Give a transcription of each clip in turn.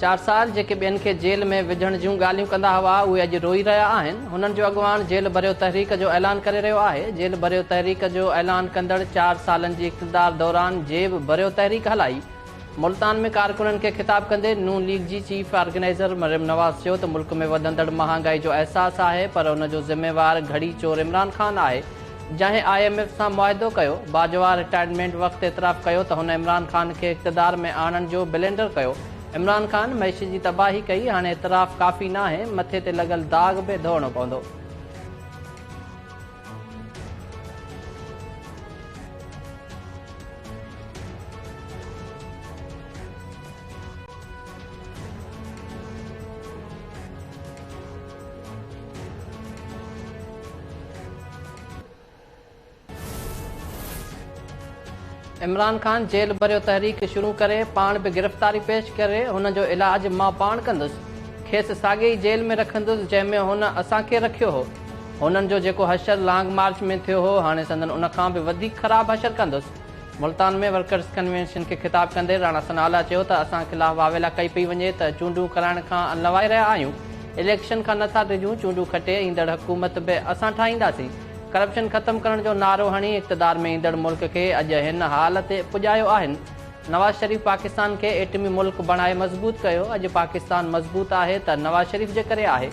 چار سال جيڪي ٻين کي جيل ۾ وجهڻ جون ڳالهيون ڪندا هئا اهي اڄ روئي رهيا آهن هنن جو اڳواڻ جيل ڀريو تحريڪ جو اعلان ڪري رهيو آهي جيل ڀريو تحريڪ جو اعلان ڪندڙ چار سالن جي اقتدار دوران جيب ڀريو تحريڪ هلائي ملتان ۾ ڪارڪنن کي خطاب ڪندي ن ليگ جي چيف آرگنائزر مريم نواز چيو ته ملڪ ۾ وڌندڙ مهانگائي جو احساس آهي پر ان جو ذميوار گهڙي چور عمران خان آهي جنهن آء ايم ايف سان معاهدو ڪيو، باجوا رٽائرمينٽ وقت اعتراف ڪيو ته هن عمران خان کي اقتدار ۾ آڻڻ جو بلينڊر ڪيو، عمران خان معيشت جي تباهي ڪئي، هاڻي اعتراف ڪافي ناهي، مٿي تي لڳل داغ به ڌوئڻو پوندو. عمران خان جيل ڀريو تحريڪ شروع ڪري پاڻ به گرفتاري پيش ڪري هن جو علاج مان پاڻ ڪندس کيس ساڳي ئي جيل ۾ رکندس جنهن ۾ هن اسان کي رکيو هو هنن جو جيڪو حشر لانگ مارچ ۾ ٿيو هو هاڻي سندن ان کان به وڌيڪ خراب حشر ڪندس ملتان ۾ ورڪرز ڪنوينشن کي خطاب ڪندي راڻا ثناء الله چيو ته اسان خلاف واويلا ڪئي پئي وڃي ته چونڊون ڪرائڻ کان انلوائي رهيا آهيون، اليڪشن کان نه ٿا ڊڄون، چونڊون کٽي ايندڙ حڪومت به اسان ٺاهينداسين، ڪرپشن ختم ڪرڻ جو نعرو هڻي اقتدار ۾ ايندڙ ملڪ کي اڄ هن حال تي پڄايو آهن، نواز شريف پاڪستان کي ايٽمي ملڪ بڻائي مضبوط ڪيو، اڄ پاڪستان مضبوط آهي ته نواز شريف جي ڪري آهي.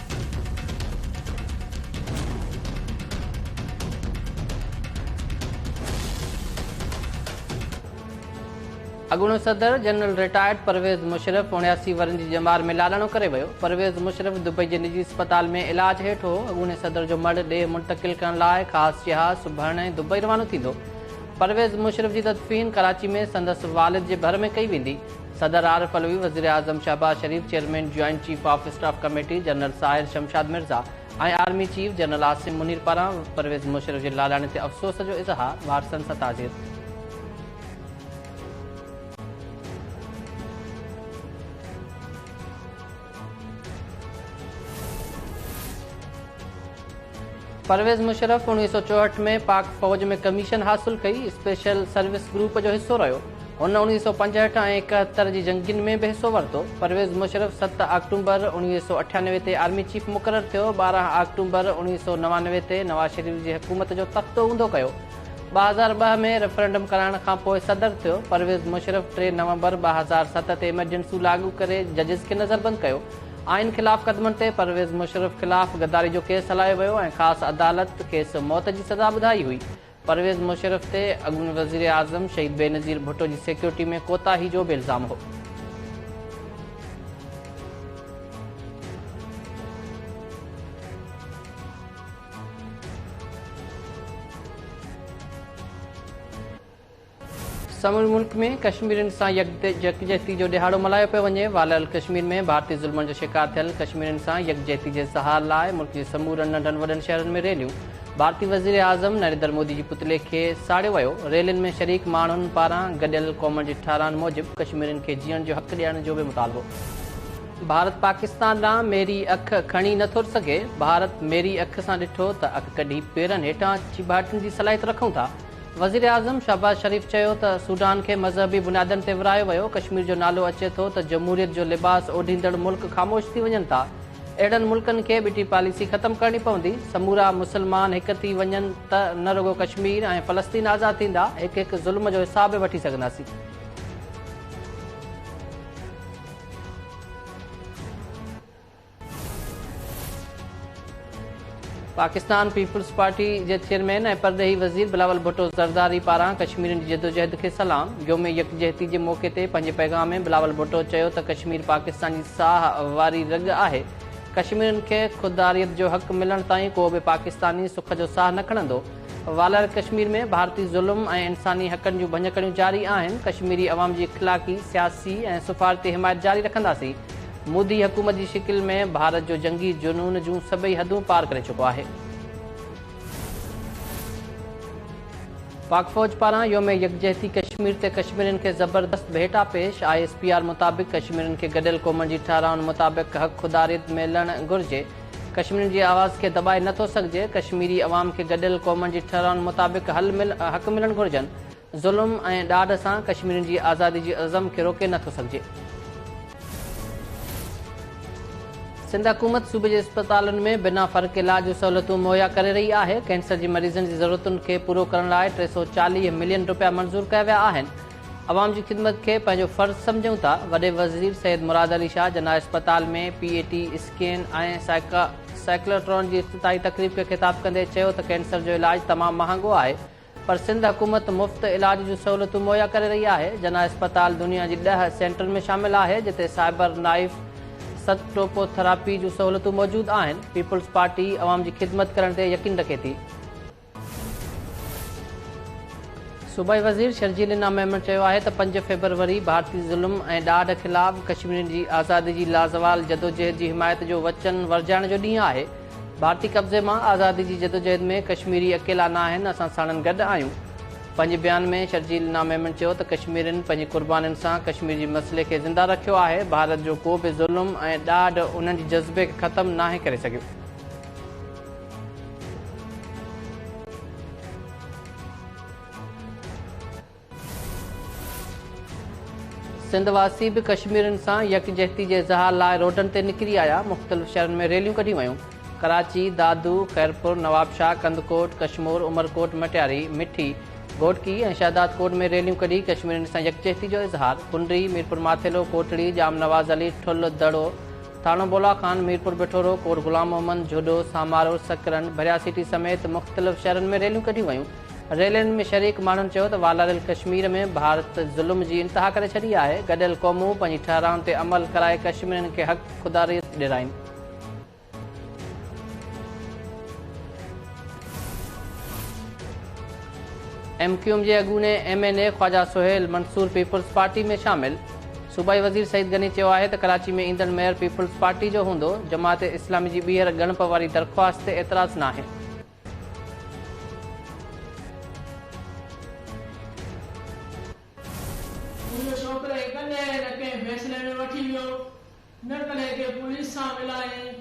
اڳوڻو صدر جنرل رٽائرڊ پرويز مشرف اڻياسي ورهين جي ڄمار ۾ لاڏاڻو ڪري ويو، پرويز مشرف دبئي جي نجي اسپتال ۾ علاج هيٺ هو، اڳوڻي صدر جو مڙهه ڏيهه منتقل ڪرڻ لاء خاص جهاز سڀرن ۽ دبئي روانو ٿيندو، پرويز مشرف جي تدفين ڪراچي ۾ سندس والد جي ڀر ۾ ڪئي ويندي. صدر عارف علوي، وزيراعظم Shehbaz Sharif, chairman joint chief of staff committee general Sahir Shamshad Mirza ۽ army chief general Asim Munir پاران پرويز مشرف جي لاڏاڻي تي افسوس جو اظهار، وارثن سان تعزيت. پرويز مشرف اڻويهه سؤ چوهٺ ۾ پاڪ فوج ۾ ڪميشن حاصل ڪئي، اسپيشل سروس گروپ جو حصو رهيو. هن اڻويهه سؤ پنجهٺ ۽ ايڪهتر جي جنگين ۾ به حصو ورتو. پرويز مشرف ست آڪٽومبر اڻويهه سؤ اٺيانوي تي آرمي چيف مقرر ٿيو، ٻارهن آڪٽومبر اڻويهه سؤ نوانوي تي نواز شريف جي حڪومت جو تختو اونڌو ڪيو. ٻه هزار ٻه ۾ ريفرنڊم ڪرائڻ کان پوء صدر ٿيو، پرويز مشرف ٽي نومبر ٻه هزار ست تي ايمرجنسيون لاڳو ڪري ججز کي نظربند ڪيو، آئين خلاف قدمن تي پرويز مشرف خلاف غداري جو ڪيس هلايو ويو ۽ خاص عدالت کيس موت جي سزا ٻڌائي هئي، پرويز مشرف تي اڳوڻي وزيراعظم شهيد بينظير ڀٽو جي سيڪيورٽي ۾ ڪوتاهي جو به الزام هو. سموري ملڪ ۾ ڪشميرين سان يڪجهتي جو ڏهاڙو ملهايو پيو وڃي، والاريل ڪشمير ۾ ڀارتي ظلمن جو شڪار ٿيل ڪشميرين سان يڪجهتي جي اظهار لاء ملڪ جي سمورن ننڍن وڏن شهرن ۾ ريليون، ڀارتي وزيراعظم نريندر مودي جي پتلي کي ساڙيو ويو، ريلين ۾ شريڪ ماڻهن پاران گڏيل قومن جي ٺهران موجب ڪشميرين کي جيئڻ جو حق ڏيڻ جو به مطالبو. ڀارت پاڪستان ڏانهن ميري اک کڻي نه ٿو سگهي، ڀارت ميري اک سان ڏٺو ته اک ڪڍي پيرن هيٺان اچي ڀاٽين جي صلاحيت رکون ٿا، وزيراعظم شهباز شريف چيو ته سوڊان کي مذهبي بنيادن تي ورهايو ويو، ڪشمير جو نالو اچي ٿو ته جمهوريت جو لباس اوڍيندڙ ملڪ خاموش ٿي وڃن ٿا، اهڙن ملڪن کي ٻٽي پاليسي ختم ڪرڻي پوندي، سمورا مسلمان هڪ ٿي وڃن ته نه رڳو ڪشمير ۽ فلسطين آزاد ٿيندا، هڪ هڪ ظلم جو حساب به وٺي سگهنداسين. پاڪستان پيپلز پارٽي جي چيئرمين ۽ پرڏيهي وزير بلاول ڀٽو زرداري پاران ڪشميرين جي جدوجهد کي سلام، يوم يڪجهتي جي موقعي تي پنهنجي پيغام ۾ بلاول ڀٽو چيو ته ڪشمير پاڪستان جي ساهه واري رڳ آهي، ڪشميرين کي خوداريت جو حق ملڻ تائين ڪو به پاڪستاني سک جو ساهه نه کڻندو. والر ڪشمير ۾ ڀارتي ظلم ۽ انساني حقن جون ڀڃڪڙيون جاري آهن، ڪشميري عوام جي اخلاقي، سياسي ۽ سفارتي حمايت جاري رکنداسين، مودي حڪومت جي شڪل ۾ ڀارت جو جنگي جنون جون سڀئي حدون پار ڪري چڪو آهي. پاڪ فوج پاران يوم يڪجهتي ڪشمير تي ڪشميرين کي زبردست ڀيٽا پيش، آء ايس پي آر مطابق ڪشميرين کي گڏيل قومن جي ٺهرائن مطابق حق خوداريت ملڻ گهرجي، ڪشميرين جي آواز کي دٻائي نه ٿو سگهجي، ڪشميري عوام کي گڏيل قومن جي ٺهرائن مطابق حل مل حق ملڻ گهرجن، ظلم ۽ ڏاڍ سان ڪشميرين جي آزادي جي عزم کي روڪي نه ٿو سگهجي. سنڌ حڪومت صوبي جي اسپتالن ۾ بنا فرق علاج جون سهولتون مهيا ڪري رهي آهي، ڪينسر جي مريضن جي ضرورتن کي پورو ڪرڻ لاء ٽي سؤ چاليهه ملين رپيا منظور ڪيا ويا آهن، عوام جي خدمت کي پنهنجو فرض سمجهون ٿا، وڏي وزير سيد مراد علي شاهه جناح اسپتال ۾ P E T scan ۽ cyclotron جي افتتاحي تقريب کي خطاب ڪندي چيو ته ڪينسر جو علاج تمام مهانگو آهي پر سنڌ حڪومت مفت علاج جون سهولتون مهيا ڪري رهي آهي، جناح اسپتال دنيا جي ڏهه سينٽرن ۾ شامل آهي جتي سائبر نائف سٽوپوٿراپي جون سهولتون موجود آهن، پيپلز پارٽي عوام جي خدمت ڪرڻ تي يقين رکي ٿي. صوبائي وزير شرجيل انا ميمڻ چيو آهي ته پنج فيبروري ڀارتي ظلم ۽ ڏاڍ خلاف ڪشميرين جي آزادي جي لازوال جدوجهد جي حمايت جو وچن ورجائڻ جو ڏينهن آهي، ڀارتي قبضي مان آزادي جي جدوجهد ۾ ڪشميري اڪيلا ناهن اسان ساڻن گڏ آهيون. پنهنجي بيان ۾ شرجيل انا ميمڻ چيو ته ڪشميرين پنهنجي قربانين سان ڪشمير جي مسئلي کي زنده رکيو آهي، ڀارت جو ڪو به ظلم ۽ ڏاڍ انهن جي جذبي کي ختم ناهي ڪري سگهيو. سنڌ واسي به ڪشميرين سان يڪجهتي جي اظهار لاء روڊن تي نڪري آيا، مختلف شهرن ۾ ريليون ڪڍيون ويون، ڪراچي، دادو، خيرپور، نوابشاهه، ڪنڌڪوٽ، ڪشمور، عمرڪوٽ، مٽياري، مٺي، گهوٽڪي ۽ شهدادڪوٽ ۾ ريليون ڪڍي ڪشميرين سان يڪجهتي جو اظهار، پنڊري، ميرپورماٿيلو، ڪوٽڙي، ڄام نواز علي، ٺل، دڙو، ٿانو بولا خان، ميرپور بٺورو، ڪوٽ غلام محمد، جهوڏو، سامارو، سڪرن، ڀريا سٽي سميت مختلف شهرن ۾ ريليون ڪڍيون ويون. ريلين ۾ شريڪ ماڻهن چيو ته والاريل ڪشمير ۾ ڀارت ظلم جي انتها ڪري ڇڏي آهي، گڏيل قومون پنهنجي ٺهرائن تي عمل ڪرائي ڪشميرين کي حق خوداريت ڏيرائين. ايم ڪيو ايم جي اڳوڻي M N A Khawaja Sohail Mansoor people's party ۾ شامل، صوبائي وزير سعيد غني چيو آهي ته ڪراچي ۾ ايندڙ ميئر پيپلز پارٽي جو هوندو، جماعت اسلامي جي ٻيهر ڳڻپ واري درخواست تي اعتراض ناهي. منهنجو ڇوڪري ڪڏهن نه ڪنهن فيصلي ۾ وٺي ويو، نه ڪڏهن ڪنهن پوليس سان ملائين،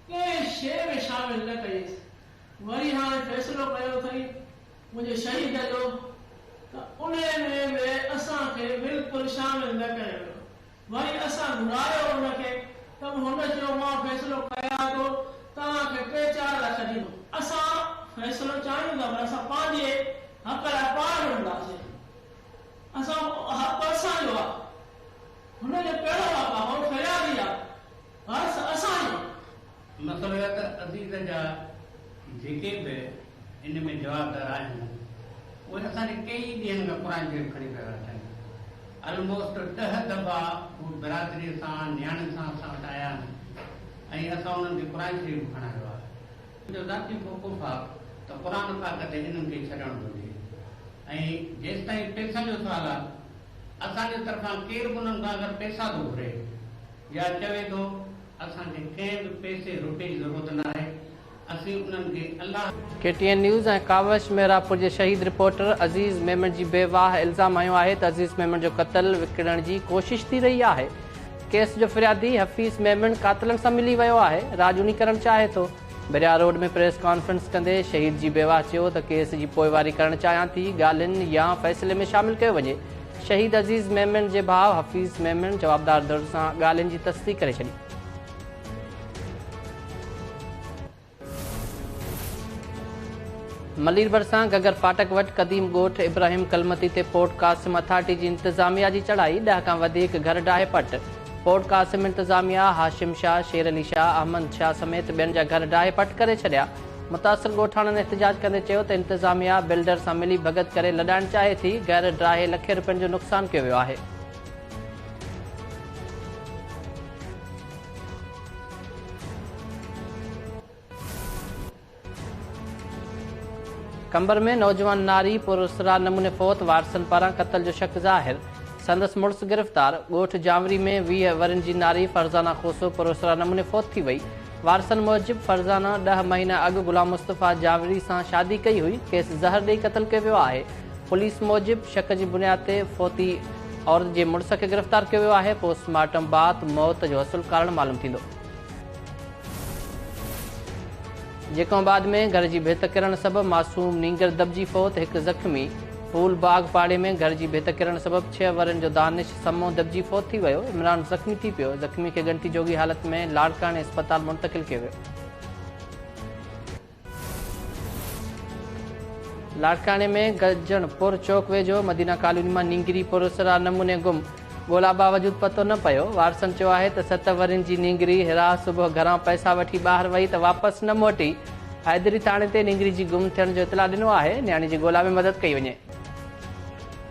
ڪنهن شيء ۾ شامل نه ڪيس. وري هاڻي فيصلو ڪيو اٿئي منهنجي شهيد جو ته انهي ۾ به اسان کي بلڪل شامل نه ڪيو ويو. وري اسان گهرايو ان کي ته به هن چيو مان فيصلو ڪيان ٿو توهان کي ٽي چار لک ڏيندو. اسان فيصلو چاهيون ٿا پر اسان پنهنجي حق لاء پاڻ وڙهنداسين. اسان حق اسان جو آهي. هن جو ڪهڙو حق آهي هو فريادي آهي. حرص اسان جو آهي. مسرت عزيز جا جيڪي به ان ۾ جوابدار آهن اهي اسان ڏي ڪيئي ڏينهن کان قرآن شريف کڻي پيا ويا اچن الموسٽ ڏهه دفعا هو برادري سان نياڻين سان اسان وٽ آيا آهن ۽ اسان انهن کي قرآن شريف به کڻايو آهي. منهنجو ذاتي موقف آهي ته قرآن پاڪ تي انهن کي ڇڏڻ گهرجي ۽ جيستائين پئسن جو سوال آهي اسان جي طرفان ڪير به انهن کان اگر پئسا ٿو گهري يا چوي ٿو اسان کي ڪنهن به پئسي روپئي جي ضرورت ناهي اسين انهن کي الله. K T N news ۽ Kawish Mehrabpur جي شهيد رپورٽر عزيز ميمڻ جي بيواهه الزام هنيو آهي ته عزيز ميمڻ جو قتل وڪڻڻ جي ڪوشش ٿي رهي آهي ڪيس جو فريادي حفيظ ميمڻ قاتلن سان ملي ويو آهي راڄوڻي ڪرڻ چاهي ٿو بحريا روڊ ۾ پريس ڪانفرنس ڪندي شهيد جي بيواهه چيو ته ڪيس جي پوئواري ڪرڻ چاهيان ٿي ڳالهين يا فيصلي ۾ شامل ڪيو وڃي شهيد عزيز ميمڻ جي ڀاء حفيظ ميمڻ جوابدار ڌر سان ڳالهين جي تصديق ڪري ڇڏي. ملير ڀرسان گگر ڦاٽڪ وٽ قديم ڳوٺ ابراهيم ڪلمتي تي پورٽ قاسم اٿارٽي جي انتظاميا جي چڙهائي، ڏهه کان وڌيڪ گهر ڊاهي پٽ، پورٽ قاسم انتظاميا هاشم شاهه، شير علي شاهه، احمد شاهه سميت ٻين جا گهر ڊاهي پٽ ڪري ڇڏيا. متاثر ڳوٺاڻن احتجاج ڪندي چيو ته انتظاميا بلڊر سان ملي ڀڳت ڪري لڏائڻ چاهي ٿي، گهر ڊاهي لکين روپين جو نقصان ڪيو ويو آهي. قمبر ۾ نوجوان ناري پراسرار نموني فوت، وارثن پاران قتل جو شڪ ظاهر، سندس مڙس گرفتار، ڳوٺ جانوري ۾ ويهه ورهين جي ناري فرزانه کوسو پراسرار نموني فوت ٿي وئي، وارثن موجب فرزانه ڏهه مهينا اڳ غلام مصطفيٰ جاويري سان شادي ڪئي هئي، کيس زهر ڏئي قتل ڪيو ويو آهي. پوليس موجب شڪ جي بنياد تي فوتي عورت جي مڙس کي گرفتار ڪيو ويو آهي، پوسٽ مارٽم بعد موت جو اصل ڪارڻ معلوم ٿيندو. جيڪو آباد ۾ گهر جي ڀت ڪرڻ سبب معصوم نينگر دٻجي فوت، هڪ زخمي. ڦول باغ پاڙي ۾ گهر جي ڀت ڪرڻ سبب ڇهه ورهين جو دانش سمو دٻجي فوت ٿي ويو، عمران زخمي ٿي پيو، زخمي کي ڳڻتي جوڳي حالت ۾ لاڙڪاڻي اسپتال منتقل ڪيو ويو. لاڙڪاڻي ۾ گرجڻ پور چوڪ ويجهو مدينه ڪالوني مان نينگري پراسرار نموني گم، ڳولا باوجود پتو نه پيو، وارثن چيو آهي ته ست ورهين جي نينگري هيرا صبح گهران پئسا وٺي ٻاهر وئي ته واپس نه موٽي، حيدري ٿاڻي تي نينگري جي گم ٿيڻ جو اطلاع ڏنو آهي، نياڻي جي ڳولا ۾ مدد ڪئي وڃي.